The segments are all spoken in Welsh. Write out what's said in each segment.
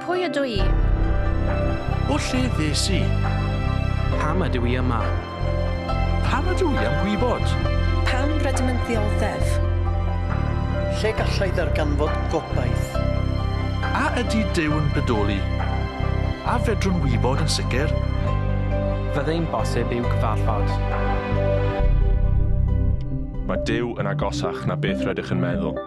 Pwy ydw i? O lle ddes i? Pam ydw i yma? Pam ydw i am gwybod? Pam rydym yn ddioddef? Lle gallai ddarganfod gobaith? A ydy Duw yn bodoli? A fedrwn wybod yn sicr? Fyddai'n bosib i'w cyfarfod? Mae Duw yn agosach na beth rydych yn meddwl.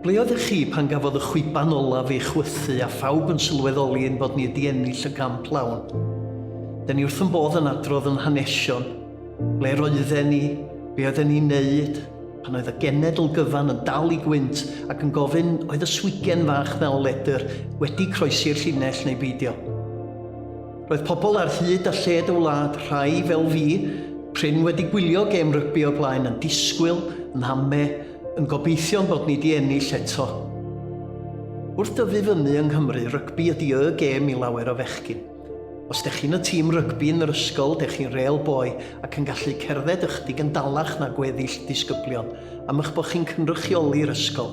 Ble oeddech chi pan gafodd y chwiban olaf ei chwythu a phawb yn sylweddoli ein bod ni wedi ennill y gamp lawn? Dyn ni wrth yn bodd yn adrodd yn hanesion, ble roedden ni, be oedden ni'n neud, pan oedd y genedl gyfan yn dal i gwynt ac yn gofyn oedd y swigen fach na o ledr wedi croesi'r llinell neu beidio. Roedd pobl ar hyd a lled y wlad, rhai fel fi, prin wedi gwylio gêm rygbi o'r blaen, yn disgwyl, yn hame, yn gobeithio'n bod ni di ennill eto. Wrth dyfu fyny yng Nghymru, rygbi ydi y gêm i lawer o fechgyn. Os dech chi'n y tîm rygbi yn yr ysgol, dech chi'n rêl boi ac yn gallu cerdded ychydig yn dalach na gweddill disgyblion, am eich bod chi'n cynrychioli'r ysgol.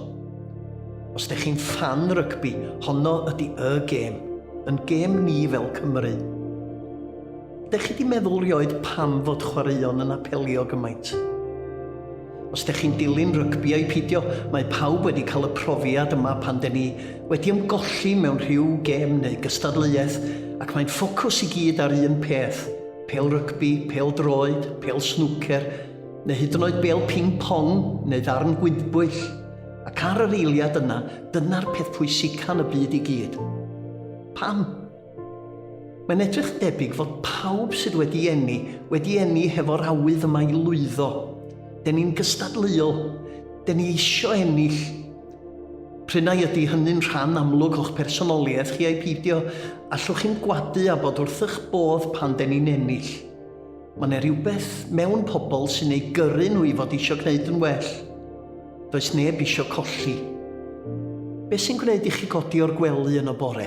Os dych chi'n ffan rygbi, honno ydy y gêm. Yn gêm ni fel Cymru. Dych chi di meddwl rioed pam fod chwaraeon yn apelio gymaint? Os dych chi'n dilyn rygbi a'i pidio, mae pawb wedi cael y profiad yma pan den ni wedi ymgolli mewn rhyw gêm neu gystadleuaeth ac mae'n ffocws i gyd ar un peth, pel rygbi, pel droed, pel snwcer, neu hyd yn oed bel ping pong neu ddarn gwydbwyll. Ac ar yr eiliad yna, dyna'r peth pwysica yn y byd i gyd. Pam? Mae'n edrych debyg fod pawb sydd wedi enni, wedi enni hefo'r awydd yma i lwyddo. Den ni'n gystadleuol. Den ni eisiau ennill. Prynau ydy hynny'n rhan amlwg o'ch personoliaeth chi ai peidio, allwch chi'n gwadu a bod wrthych bodd pan den ni'n ennill. Mae yna rhywbeth mewn pobl sy'n eu gyrru nhw i fod eisiau gwneud yn well. Does neb eisiau colli. Beth sy'n gwneud i chi godi o'r gwely yn y bore?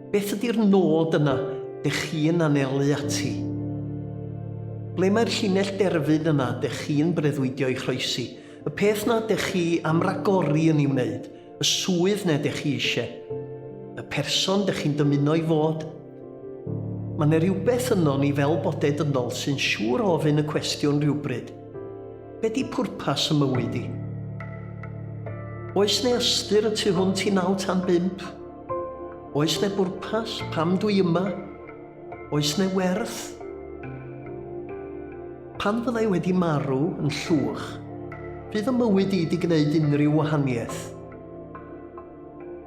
Beth ydy'r nod yna dych chi'n anelu ati? Ble mae'r llinell derfyn yna dych chi'n breuddwydio i chroesi? Y peth na dych chi am ragori yn ei wneud? Y swydd na dych chi eisiau? Y person dych chi'n dymuno i fod? Mae yna rywbeth yno ni fel bodau dynol sy'n siŵr o ofyn y cwestiwn rhywbryd, Be di pwrpas y mywyd i? Oes ne ystyr y tu hwnt i naw tan bump? Oes ne bwrpas? Pam dwi yma? Oes ne werth? Pan fyddai wedi marw yn llwch, fydd y mywyd i di gwneud unrhyw wahaniaeth?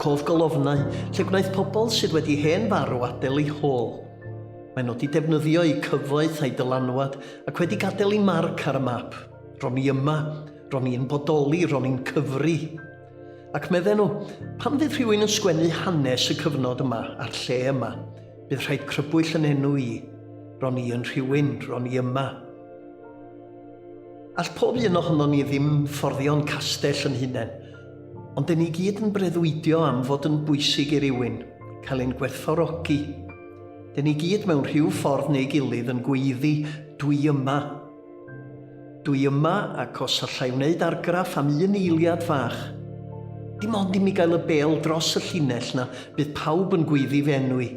Cof golofnau, lle gwnaeth pobl sydd wedi hen farw adael eu hôl. Mae nhw wedi defnyddio eu cyfoeth a'u dylanwad ac wedi gadael eu marc ar y map. Ro'n i yma, ro'n i'n bodoli, ro'n i'n cyfri. Ac medden nhw, pan fydd rhywun yn sgwennu hanes y cyfnod yma a'r lle yma, bydd rhaid crybwyll yn enw i. Ro'n i yn rhywun, ro'n i yma. All pob un ohonon ni ddim fforddio'n castell yn hunain, Ond dyn ni gyd yn breuddwydio am fod yn bwysig i rywun, cael ein gwerthfawrogi. Dyn ni gyd mewn rhyw ffordd neu gilydd yn gweiddi, dwi yma. Dwi yma ac os allai wneud argraff am un eiliad fach, dim ond i mi gael y bel dros y llinell na, bydd pawb yn gweiddi fy enw i.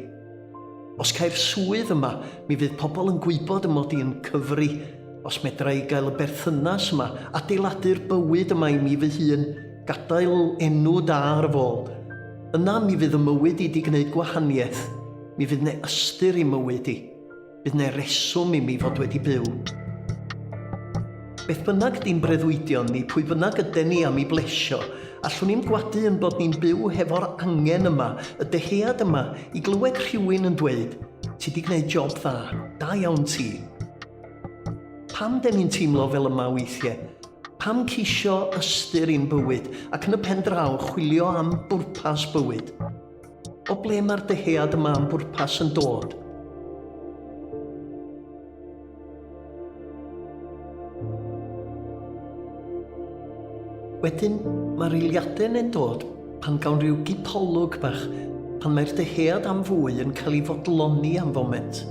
Os caiff swydd yma, mi fydd pobl yn gwybod y mod i yn cyfri. Os medra i gael y berthynas yma, adeiladu'r bywyd yma i mi fy hun, gadael enw da ar fy ôl, yna mi fydd 'y mywyd i 'di gwneud gwahaniaeth, mi fydd 'ne ystyr i mywyd i. Bydd ne reswm i mi fod wedi byw. Beth bynnag di'n breuddwydion ni, pwy bynnag yden ni am i blesio, allwn i'm gwadu yn bod ni'n byw hefo'r angen yma, y dehead yma, i glywed rhywun yn dweud, Ti di gwneud job dda, da iawn ti. Pam den ni'n teimlo fel yma weithiau? Pam ceisio ystyr i'n bywyd ac yn y pen draw chwilio am bwrpas bywyd? O ble mae'r dyhead yma am bwrpas yn dod? Wedyn, mae'r eiliadau'n yn dod pan gawn rhyw gipolwg bach, pan mae'r dyhead am fwy yn cael ei fodloni am foment.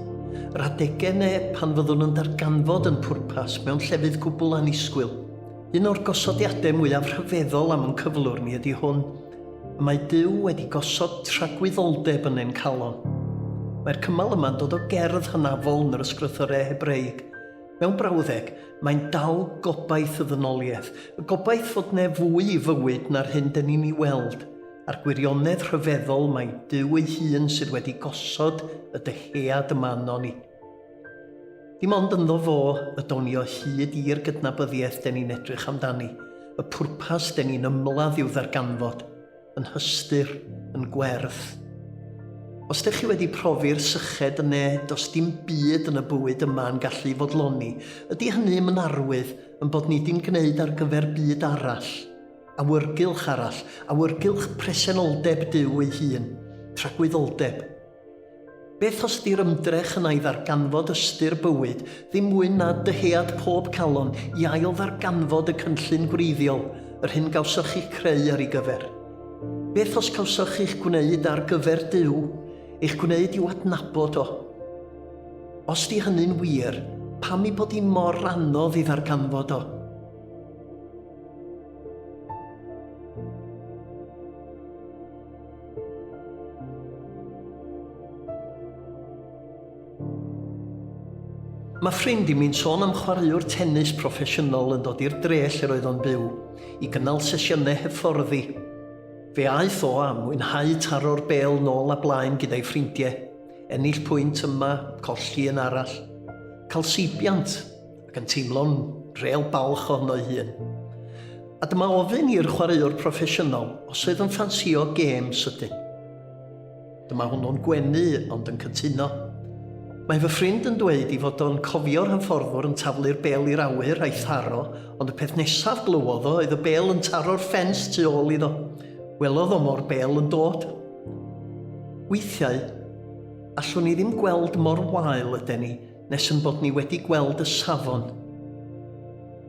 Yr adegau neu pan fyddwn yn darganfod yn pwrpas mewn llefydd gwbl annisgwyl. Un o'r gosodiadau mwyaf rhyfeddol am yn cyflwr ni ydy hwn. y mae Duw wedi gosod tragwyddoldeb yn ein calon. Mae'r cymal yma'n dod o gerdd hynafol yn yr Ysgrythyrau Hebreig. Mewn brawddeg, mae'n dal gobaith y ddynoliaeth, y gobaith fod ne fwy i fywyd na'r hyn dyn ni'n ei weld, a'r gwirionedd rhyfeddol mai Duw ei hun sydd wedi gosod y dyhead yma arnon ni. Dim ond ynddo fo y down ni o hyd i'r gydnabyddiaeth den ni'n edrych amdani, y pwrpas den ni'n ymladd i'w ddarganfod, yn hystyr, yn gwerth. Os dych chi wedi profi'r syched yn ne, does dim byd yn y bywyd yma yn gallu fodloni, ydy hynny'm yn arwydd yn bod ni di'n gwneud ar gyfer byd arall, awyrgylch arall, awyrgylch presenoldeb Duw ei hun, tragwyddoldeb, Beth os di'r ymdrech yna i ddarganfod ystyr bywyd ddim mwy na dyhead pob calon i ail-ddarganfod y cynllun gwreiddiol, yr hyn gawsoch chi'ch creu ar ei gyfer? Beth os cawsoch chi'ch gwneud ar gyfer Duw, eich gwneud i'w adnabod O? Os di hynny'n wir, pam ei bod hi mor anodd i ddarganfod O? Mae ffrind i mi'n sôn am chwaraewr tennis proffesiynol yn dod i'r dre lle roedd o'n byw, i gynnal sesiynau hyfforddi. Fe aeth o a mwynhau taro'r bêl nôl a blaen gyda'i ffrindiau, ennill pwynt yma, colli un arall. Cael seibiant, ac yn teimlo'n rêl balch ohono ei hun. A dyma ofyn i'r chwaraewr proffesiynol os oedd yn ffansio gêm sydyn. Dyma hwnnw'n gwenu ond yn cytuno. Mae fy ffrind yn dweud i fod o'n cofio'r hyfforddwr yn taflu'r bel i'r awyr a'i tharo, ond y peth nesaf glywodd o oedd y bel yn taro'r ffens tu ôl iddo. Welodd o mor bel yn dod. Weithiau, allwn ni ddim gweld mor wael yden ni, Nes yn bod ni wedi gweld y safon.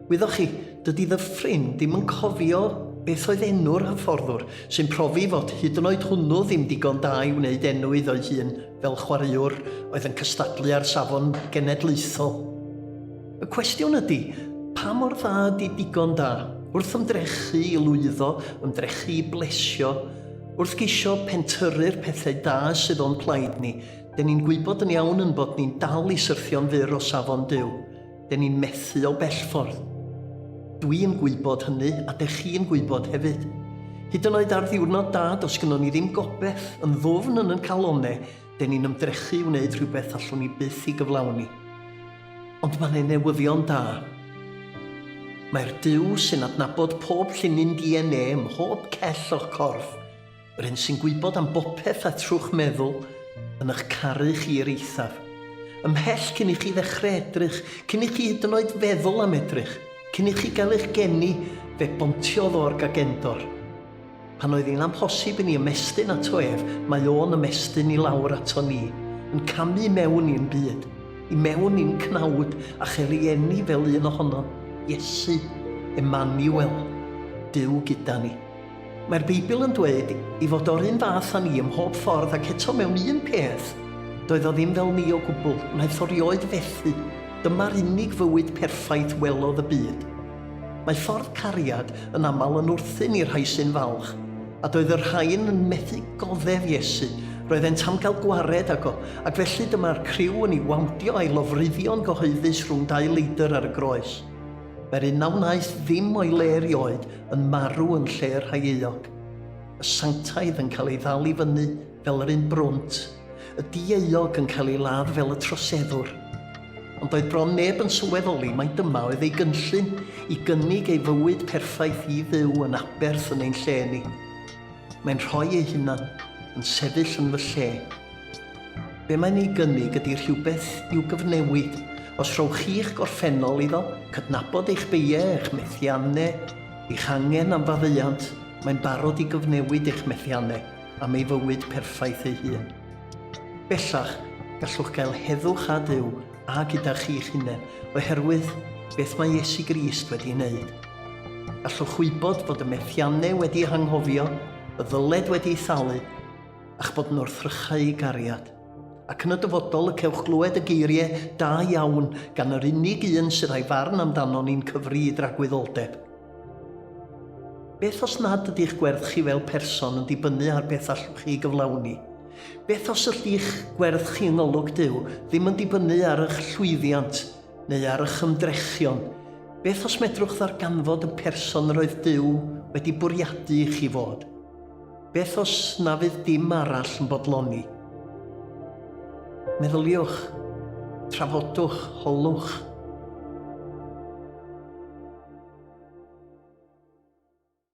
Wyddoch chi, dydy fy ffrind ddim yn cofio beth oedd enw'r hyfforddwr, sy'n profi fod hyd yn oed hwnnw ddim digon da i wneud enw iddo'i hun fel chwaraewr oedd yn cystadlu ar safon genedlaethol. Y cwestiwn ydy, pa mor dda ydy digon da? Wrth ymdrechu i lwyddo, ymdrechu i blesio, wrth geisio pentyrru'r pethau da sydd o'n plaid ni, Den ni'n gwybod yn iawn yn bod ni'n dal i syrthio'n fyr o safon Duw. Den ni'n methu o bellffordd. Dwi yn gwybod hynny, a dech chi yn gwybod hefyd. Hyd yn oed ar ddiwrnod da, dos gynnon ni ddim gobeth, yn ddwfn yn yn calone, den ni'n ymdrechu i wneud rhywbeth allwn ni byth i gyflawni. Ond mae ne newyddion da. Mae'r Duw sy'n adnabod pob llinyn DNA ym mhob cell o'ch corff Yr un sy'n gwybod am bopeth a trwch meddwl yn ych caru chi i'r eithaf. Ymhell cyn i chi ddechrau edrych, cyn i chi hyd yn oed feddwl am edrych, cyn i chi gael eich geni, fe bontiodd o'r gagendor. Pan oedd hi'n amhosib i ni ymestyn ato ef, mae o'n ymestyn i lawr ato ni, yn camu i mewn i'n byd, i mewn i'n cnawd a'ch erieni fel un ohonom, Iesu, Emmanuel, Duw gyda ni. Mae'r Beibl yn dweud ei fod o'r un fath â ni ym mhob ffordd ac eto mewn un peth, doedd o ddim fel ni o gwbl, wnaeth o rioed fethu, dyma'r unig fywyd perffaith welodd y byd. Mae ffordd cariad yn aml yn wrthun i'r rhai sy'n falch, a doedd y rhain yn methu goddef Iesu, roeddent am gael gwared ag o, ac felly dyma'r criw yn ei wawndio a'i lofruddio'n gyhoeddus rhwng dau leidr ar y groes. Mae'r un na wnaeth ddim o'i le erioed yn marw yn lle y rhai euog. Y sanctaidd yn cael ei ddal i fyny fel yr un brwnt, y dieuog yn cael ei ladd fel y troseddwr. Ond doedd bron neb yn sylweddoli mai dyma oedd ei gynllun, i gynnig ei fywyd perffaith i Dduw yn aberth yn ein lle ni. Mae'n rhoi ei hunan yn sefyll yn fy lle. Be mae'n ei gynnig ydy rhywbeth i'w gyfnewid. Os rhowch chi'ch gorffennol iddo, cydnabod eich beiau, eich methiannau, eich angen am faddeuant, mae'n barod i gyfnewid eich methiannau am ei fywyd perffaith ei hun. Bellach, gallwch gael heddwch â Duw a gyda chi'ch hunain oherwydd beth mae Iesu Grist wedi ei wneud. Gallwch wybod fod y methiannau wedi eu hanghofio, y ddyled wedi ei thalu, a'ch bod yn wrthrychau gariad. Ac yn y dyfodol y cewch glywed y geiriau da iawn gan yr unig un sydd a'i farn amdano ni'n cyfri i dragwyddoldeb. Beth os nad ydy'ch gwerth chi fel person yn dibynnu ar beth allwch chi gyflawni? Beth os ydych gwerth chi yng ngolwg Duw ddim yn dibynnu ar eich llwyddiant neu ar eich ymdrechion? Beth os medrwch ddarganfod y person yr oedd Duw wedi bwriadu i chi fod? Beth os na fydd dim arall yn bodloni? Meddyliwch, trafodwch, holwch.